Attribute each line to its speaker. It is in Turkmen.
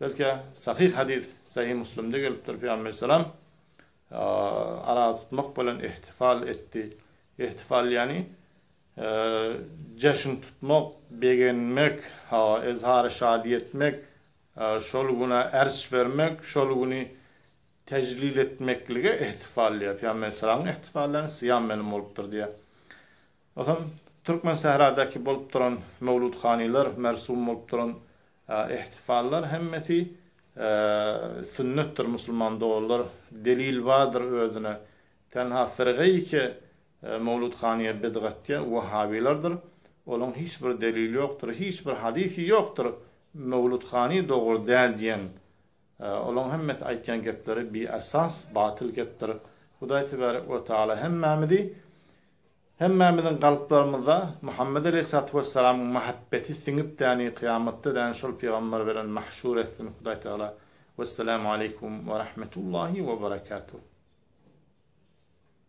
Speaker 1: Belkä, sahyh hadys, sahyh Müslimde gelipdir, Pygamber salam, Aragy tutmak bilen ihtifal etdi. Ihtifal ýagny, jeşin tutmak, begenmek, ezhary şadyýet etmek, şol güne erç bermek, şol güni tejlil etmeklige ihtifal diýýär. Pygamber salam, ihtifal ýagny syýam meniň bolupdyr diýýär. Ysam Türkmensähradaky bolup duran möwludhanylar, mersum bolup duran ihtifallar hemmesi sünnetdir musulman doganlar. Delil bardyr özüne. Tenha firgaýyke möwludhanyýa bidgatýa wehabylardyr. Olaň hiç bir delili ýokdur. Hiç bir hadysy ýokdur möwludhany dogry däl diýen. Olaň hemmesi aýtýan gepleri biesas, batyl gepdir. Hudaý tebarek we taala hemmämizi Hemmämiziň kalplarymyza Muhammet aleýhissalatu wessalamyň mahabbeti siňip däni kyýamatda däni şol pygamber bilen mahşur etsin Hudaý Tagala Wessalamu aleýkum we rahmetullahi we berekatuh.